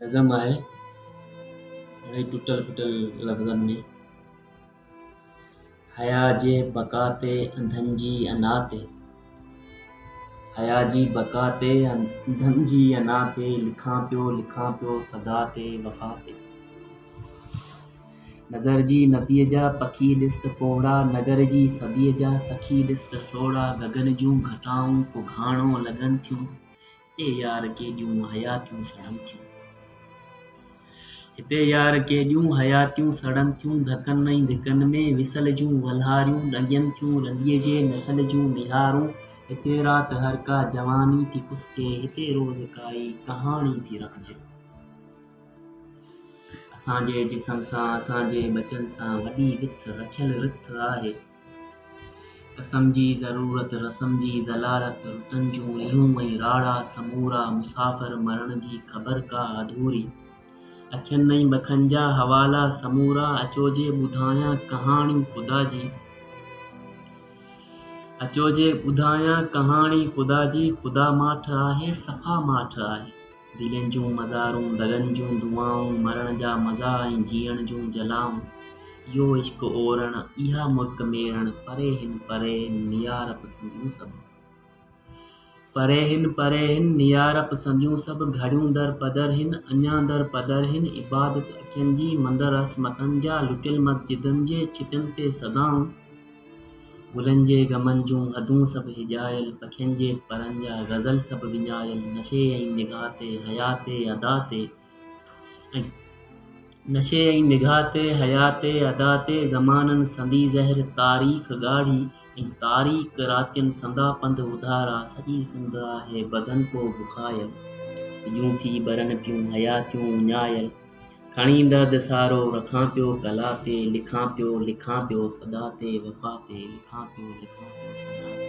نظم آهي گهڻي ٽٽل ڦٽل لفظن ۾. حيا جي بقا تي انڌن جي انا تي حيا جي بقا تي انڌن جي انا تي لکان پيو لکان پيو صدا تي وفا تي نظر جي نديء جا پکي ڏس ته پوڙها نگر جي صديء جا سخي ڏس ته سوڙها گگن جون گهٽائون ڪو گهاڻو لڳن ٿيون هتي يار ڪيڏيون حياتيون سڙن ٿيون هتي يار ڪيڏيون حياتيون سڙن ٿيون ڌڪن ۽ ڌڪن ۾ وصل جون ولهاريون ڏنگين ٿيون رنديء جي نسل جون ميهارون هتي رات هر ڪا جواني ٿي پسجي هتي روز ڪائي ڪهاڻي ٿي رکجي اسان جي جسم سان اسان جي ٻچن سان وڏي وٿ رکيل رٿ آهي قسم جي ضرورت رسم جي ضلالت رتن جون ريهون ۽ راڙا سمورا مسافر مرڻ جي خبر ڪا اڌوري اکين ۽ بکن جا حوالا سمورا اچو جي ٻڌايان ڪهاڻي خدا جي اچو جي ٻڌايان ڪهاڻي خدا جي خدا ماٺ آهي صفا ماٺ آهي دلين جون مزارون، دلن جون دعائون، مرڻ جا مزا ۽ جيئڻ جون جلائون، اهو عشق اورڻ، اها مرڪ ميڙڻ، پري هن پري هن نيارپ سنديون سڀ. پري هن پري هن نيارپ سنديون سڀ، گهڙيون در پدر هن، اڃا در پدر هن، عبادت اکين جي، مندر عصمتن جا، لٽيل مسجدن جي، ڇٽن تي صدائون، گلن جي گمن جون حدون سڀ هيڄايل، پکين جي پرن جا غزل سڀ وڃايل، نشي ۽ نگاهه تي حيا تي ادا تي ۽ نشي ۽ نگاهه تي حيا تي ادا تي زمانن سندي زهر تاريخ ڳاڙهي ۽ تاريڪ راتين سندا پنڌ اڌارا سڄي سنڌ آهي بدن ڪو بکايل، پڄون ٿي ٻرن پيون حياتيون وڃايل. کڻي ايندا دسارو رکان پيو ڪلا تي لکان پيو لکان پيو صدا تي وفا تي لکان پيو لکان پيو صدا تي